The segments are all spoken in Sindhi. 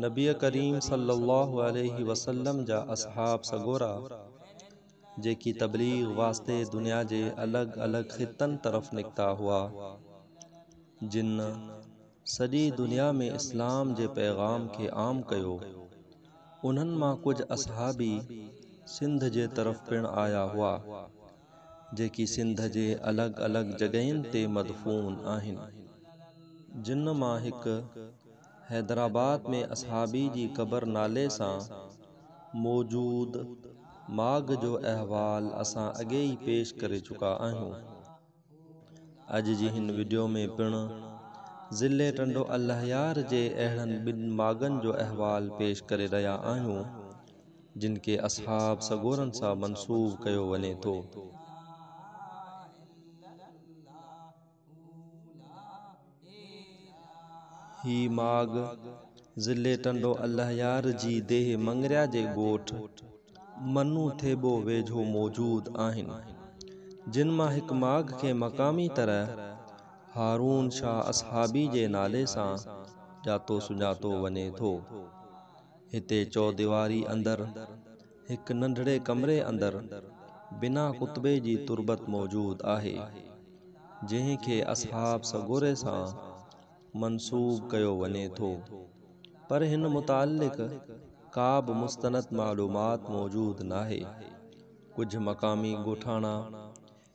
نبي ڪريم صلي الله عليه وسلم جا اصحاب سڳورا جيڪي تبليغ واسطي دنيا جي الڳ الڳ خطن طرف نڪتا هئا جن سڄي دنيا ۾ اسلام جي پيغام کي عام ڪيو انهن مان ڪجهه اصحابي سنڌ جي طرف پڻ آيا هئا جيڪي سنڌ جي الڳ الڳ جڳهين تي مدفون آهن جن مان هڪ حيدرآباد ۾ اصحابي جي قبر نالي سان موجود ماڳ جو احوال اسان اڳي ئي پيش ڪري چڪا آهيون اڄ جي هن وڊيو ۾ پڻ ضلعي ٽنڊو الهيار جي اهڙن ٻن ماڳن جو احوال پيش ڪري رهيا آهيون. جن کي اصحاب سڳورن سان منسوب ڪيو وڃي ٿو. هي ماڳ ضلعي ٽنڊو الهيار جي ديهه مڱريا جي ڳوٺ منو ٿيٻو ويجهو موجود آهن، جن مان هڪ ماڳ کي مقامي طرح هارون شاهه اصحابي جي نالي سان ڄاتو سڃاتو وڃي ٿو. هتي چوديواري اندر هڪ ننڍڙي ڪمري اندر بنا ڪتبي جي تربت موجود آهي، جنهن کي اصحاب سڳوري سان منسوب ڪيو وڃي ٿو، پر هن متعلق ڪابه مستند معلومات موجود ناهي. ڪجهه مقامي ڳوٺاڻا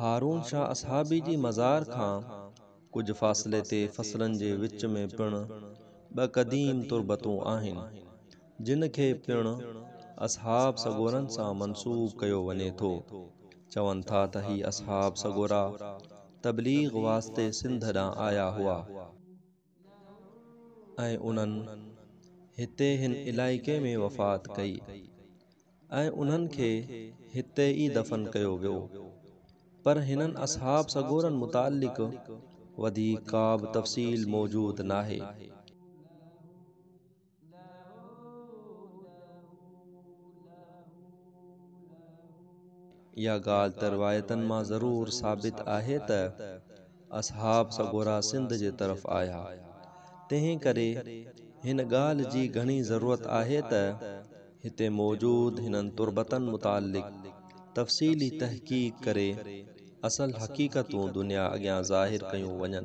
هارون شاهه اصحابي جي مزار کان ڪجهه فاصلي تي فصلن جي وچ ۾ پڻ ٻه قديم تربتون آهن، جن کي پڻ اصحاب سڳورن سان منسوب ڪيو وڃي ٿو. چون ٿا ته هي اصحاب سڳورا تبليغ واسطي سنڌ ڏانهن آيا هئا. ۽ انهن هتي هن علائقي ۾ وفات ڪئي ۽ انهن کي هتي ئي دفن ڪيو ويو. پر هنن اصحاب سڳورن متعلق وڌيڪ ڪابه تفصيل موجود ناهي. لهو لهو لهو لهو. اها ڳالهه ته روايتن مان ضرور ثابت آهي ته اصحاب سڳورا سنڌ جي طرف آيا، تنهن ڪري هن ڳالهه جي گهڻي ضرورت آهي ته هتي موجود هنن تربتن متعلق تفصيلي تحقيق ڪري اصل حقيقتون دنيا اڳيان ظاهر ڪيون وڃن.